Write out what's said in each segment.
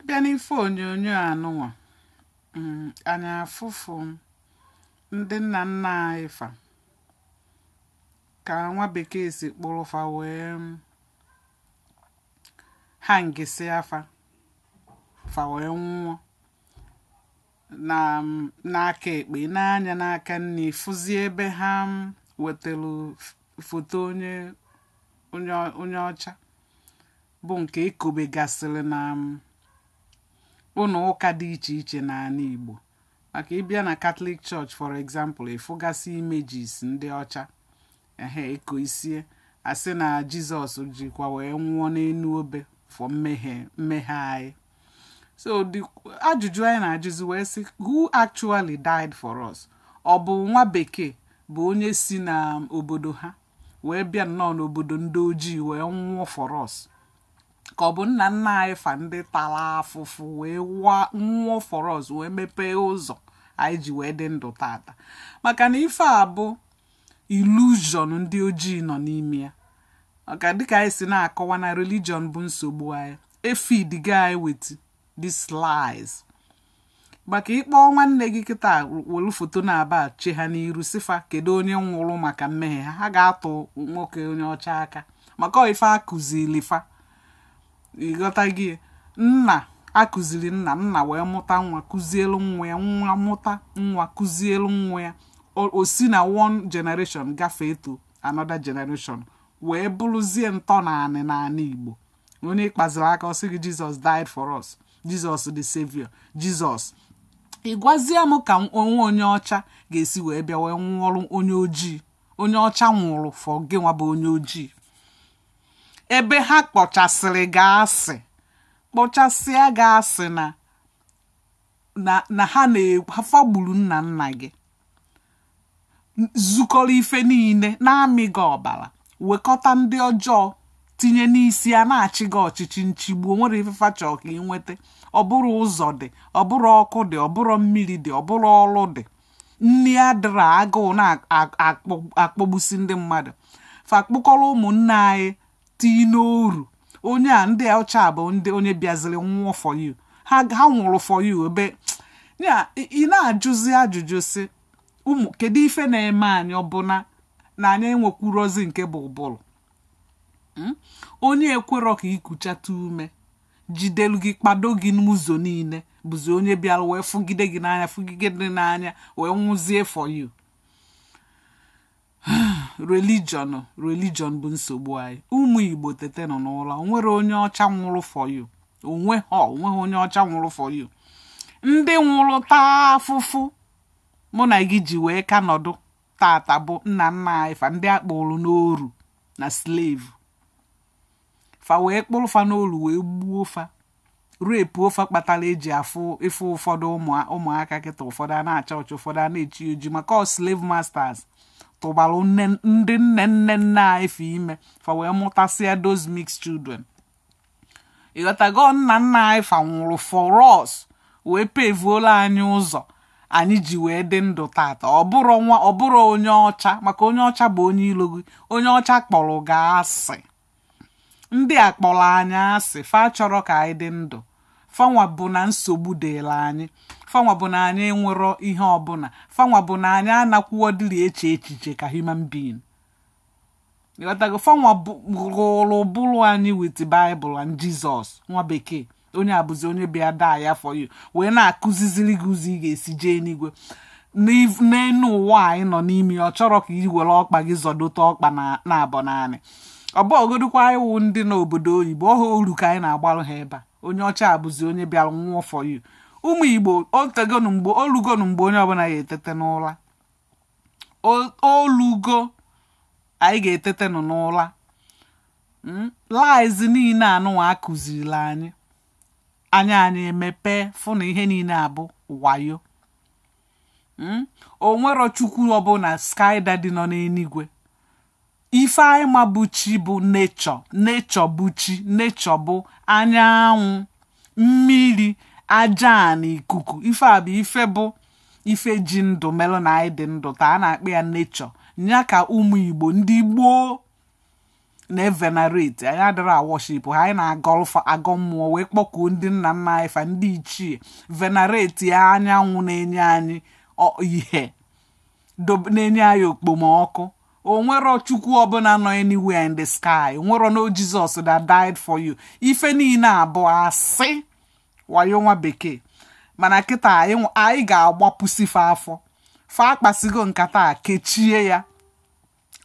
bịa n'ife onyonyo anụnwa mm, anyị afụfụ ndị nna nna anyị fa ka nwa bekee si kpụrụ fa wee mm, hangịsịa fa fa wee nwụọ na m n'aka ekpe n'anya n'aka nni ị fụzie ebe ha m wetara f- foto onye onye ọ- onye ọcha bụ nke e kobegasịrị na m ụnọ ụka dị iche iche n'anị igbo maka ị bịa na katọlik church for example ị fụgasị images ndị ọcha ehe eko isie asị na jizọs jikwa wee nwụọ n'enu obe for mmehie mmehie anyị so ajụjụ anyị na-ajụzi wee sị who actually died for us ọ bụ nwa bekee bụ onye si na obodo ha wee bịa nọọ n'obodo ndị ojii wee nwụọ for us ka ọ bụ nna nna anyị fa ndị tala afụfụ wee nwụọ for us wee mepee ụzọ anyị ji wee dị ndụ taata maka na ife a bụ illusion ndị ojii nọ n'ime ya maka dịka anyị si na-akọwa na religion bụ nsogbu anyị e feedgo anyị with these lies maka ị kpọọ nwanne gị kịta welu foto naabọ che ha n'iru sị fa kedu onye nwụrụ maka mmehie ha ha ga-atụ nwoke onye ọcha aka maka ife a kụzili fa ị ghọtago na a kụziri nna nna wee mụta nwa kụzielu nwa ya nwa mụta nwa kụzielu nwa ya o si na one generation gafee to another generation wee bụrụzie ntọnanị n'anị Igbo onye ị kpaziri aka ọ sị gị jizọs died for us jizọs the savior jizọs ị gwazie m ka onye ọcha ga-esi wee bịa wee nwụọrụ onye ojii onye ọcha nwụrụ for gịnwa bụ onye ojii ebe ha kpọchasịrị gị asị kpọchasịa gị asị na na ha na fa gburu nna nna gị zukọrọ ife niile na-amị gị ọbala wekọta ndị ọjọọ tinye n'isi a na-achị gị ọchịchị nchigbu o nwerọ ife fa chọrọ ka ị nweta ọ bụrọ ụzọ dị ọ bụrọ ọkụ dị ọ bụrọ mmiri dị ọ bụrọ ọrụ dị nni adịrọ agụụ na-akpọgbusi ndị mmadụ fa kpụkọrọ ụmụnne anyị tii n'oru onye a ndị ọcha bụ ndị onye bịaziri nwụọ for you ha ha nwụrụ for you ebe ya ị na-ajụzi ajụjụ sị mm kedu ife na-eme anyị ọ bụ na anyị enwekwurọzi nke bụ ụbụrụ hmm? onye ekwerọ ka i kuchata ume jidelu gị kpado gị n'ụzọ niile bụzi onye bịara wee fụgide gị n'anya fụgide gị n'anya wee nwụzie for you religion religion bụ nsogbu anyị ụmụ igbo tetenụ n'ụla onwere onye ọcha nwụrụ for you onweghị onweghị onye ọcha nwụrụ for you ndị nwụrụ taa afụfụ mụ na gị ji wee ka nọdụ tata bụ nna nna anyị fa ndị akpụrụ n'oru na slave fa wee kpụrụ fa n'oru wee gbuo fa repuo fa ife kpatara eji afụ ịfụ ụfọdụ ụmụ- ụmụaka kịta ụfọdụ a na-acha ọcha ụfọdụ a na-eji oji maka ọ slave masters tụbara nne- ndị nne nne anyị fa ime fa wee mụtasịa those mixed children ịghọtago nna nna anyị fa nwụrụ for us wee pevuolu anyị ụzọ anyị ji wee dị ndụ tata ọ bụrọ nwa ọ bụrọ onye ọcha maka onye ọcha bụ onye ilo gị onye ọcha kpọrọ gị asị ndị a kpọrọ anyị asị fa achọrọ ka anyị dị ndụ fanwa bụ na nsogbu dịlị anyị fanwa bụ na anyị enwerọ ihe ọbụna fanwa bụ na anyị anakwuo dịrị eche echiche ka human being ịghọtago fanwa rụrụ ụbụrụ anyị with bible and jesus nwa bekee onye abụzi onye bịa die for you wee na-akụziziri gị ụzọ ị ga-esi jee n'igwe n'elu ụwa anyị nọ n'ime ọ chọrọ ka i were ọkpa gị zọdote ọkpa naabọ n'anị ọ bụgodukwa ndị n'obodo oyibo ọ oru ka anyị na-agbalụ ha ebe a onye ọcha abụzi onye bịara nwụọ for you ụmụ igbo otego mgbe olugo nụ mgbe onye ọbụla ya-etete n'ụla olugo anyị ga-etetenụ n'ụla hmm? lies niine anụwa akụziili anyị anya anyị emepe fụ na ihe niine a bụ wayo hmm? onwero chukwu ọbụna sky daddy nọ n'enigwe ife anyị ma bụ chi bụ nature nature bụ chi nature bụ anyanwụ mmiri aja na ikuku ife a bụ ife bụ ife ji ndụ melụ na anyị dị ndụ taa a na-akpọ ya nature nya ka ụmụ igbo ndị gboo na-evenerate anyị adịrọ aworship ha anyị na-agọ ọfọ agọ mmụọ wee kpọkuo ndị nna nna anyị fa ndị ichie venerate anyanwụ na-enye anyị ihe na-enye anyị okpomọkụ onwero chukwu ọbụna nọ anywhere in the sky onwero no jesus that died for you ife niine a bụ asị wayo nwa bekee mana kịta anyị ga-agbapụsi fa afọ fa akpasigo nkata a kechie ya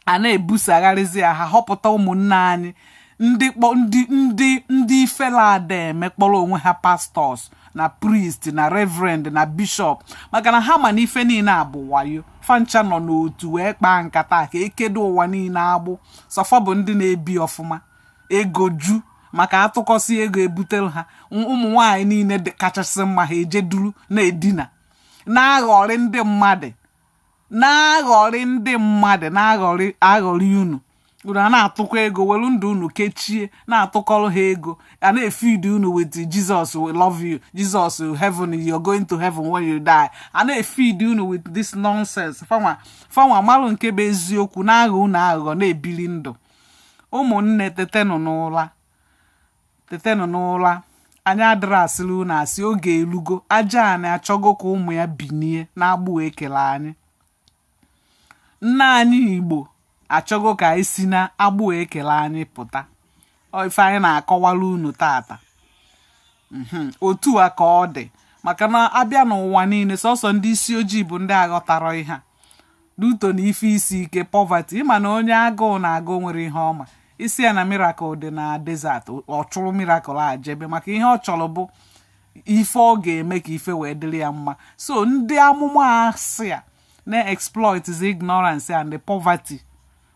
a na-ebusagharịzi ya ha họpụta ụmụnne anyị ndị ndị ndị ndị ifele ada eme kpọrọ onwe ha pastor na priest na reverend na bishop maka na ha ma na ife niine a bụ wayo fancha nọ n'otu wee kpaa nkata ka ekedo ụwa niine agbụ sọ fa bụ ndị na-ebi ọfụma ego ju maka atụkọsịa ego ebutere ha ụmụ nwanyị niine kachasị mma ha eje duru na-edina na-aghọrị ndị mmadụ na-aghọrị ndị mmadụ na-aghọrị aghọrị unu unu a na-atụkọ ego welu ndụ unu kechie na-atụkọrọ ha ego a na-efidi unu with Jesus we love you Jesus heaven you're going to heaven when you die a na-efidi unu with this nonsense fanwa fanwa malụ nke bụ eziokwu na-aghọ unu aghụghọ na-ebili ndụ ụmụnne tetenụ n'ụra tetenụ n'ụra anyị adịrọ asịrị unu asị oge elugo aja anị achọgo ka ụmụ ya binie na agbụ e kele anyị nna anyị igbo achọgo ka anyị si na agbụ e kele anyị pụta ife anyị na-akọwara unu tata mhm. otu a ka ọ dị maka na a bịa n'ụwa niile sọsọ ndị isi ojii bụ ndị aghọtarọ ihe due to na ife isi ike poverty ị ma na onye agụụ na-agụ nwerọ ihe ọ ma ị sị ya na miracle dị na desert ọ chụrụ miracle a jebe maka ihe ọ chọrọ bụ ife ọ ga-eme ka ife wee dịrị ya mma so ndị amụma asị a na-exploit the ignorance and the poverty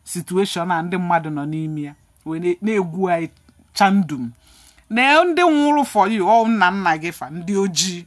situation a ndị mmadụ nọ n'ime ya wee na- na-egwu anyị chandum na ndị nwụrụ for you ọ nna nna gị fa ndị ojii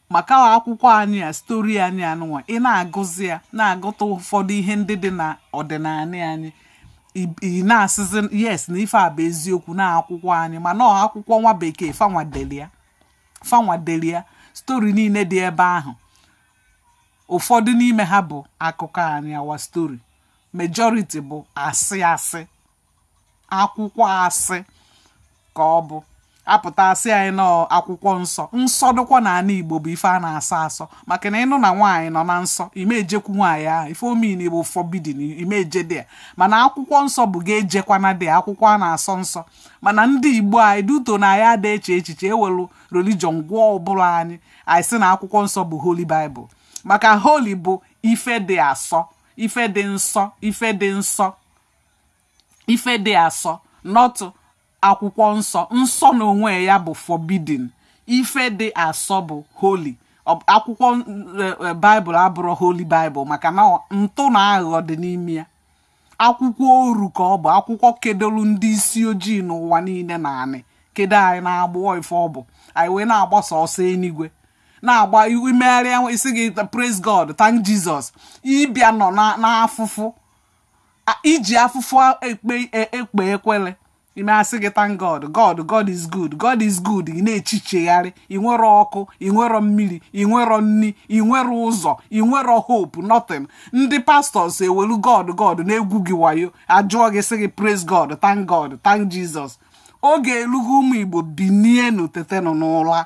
maka akwụkwọ anyị a story anyị anụnwa ị na-agụzi ya na-agụta ụfọdụ ihe ndị dị na ọdịnala anyị ị na-asịzi yes na ife a bụ eziokwu na akwụkwọ anyị mana ọ akwụkwọ nwa bekee fanwa delu ya fanwa delu ya story niile dị ebe ahụ ụfọdụ n'ime ha bụ akụkọ anyị our story majority bụ asị asị akwụkwọ asị ka ọ bụ a pụta a sị anyị na ọ akwụkwọ nsọ nsọ dịkwa na anị igbo bụ ife a na-asọ asọ maka na ị nụ na nwaanyị nọ na nsọ ị ma ejekwu nwaanyị ahụ ife ọ mean bụ forbidden ị ma eje dị ya mana akwụkwọ nsọ bụ ga ejekwana dị akwụkwọ a na-asọ nsọ mana ndị igbo anyị due to na anyị ada eche echiche e welu religion gwuo ụbụrụ anyị anyị sị na akwụkwọ nsọ bụ holy bible maka holy bụ ife dị asọ ife dị nsọ ife dị nsọ ife dị asọ not akwụkwọ nsọ nsọ na onwe ya bụ forbidden ife dị asọ bụ holy akwụkwọ e, e, bible abụrọ holy bible maka na ntụ na aghụghọ dị n'ime ya akwụkwọ oru ka ọ bụ akwụkwọ kedolu ndị isi ojii n'ụwa niile na anị kedo anyị na agbụ ife ọ bụ anyị wee na-agbasa ọsọ enigwe na-agba i megharịa a sị gị praise god thank jesus ị bịa nọ n'afụfụ i ji afụfụ ekpe e, ekpe ekpele i mee a sị gị thank God God God is good God is good ị na-echichegharị ị nwerọ ọkụ ị nwerọ mmiri ị nwerọ nri ị nwerọ ụzọ ị nwerọ hope nothing ndị pastors ewelu God God na-egwu gị wayo a jụọ gị sị gị praise God thank God thank Jesus oge elugo ụmụ Igbo binienu tetenụ n'ụra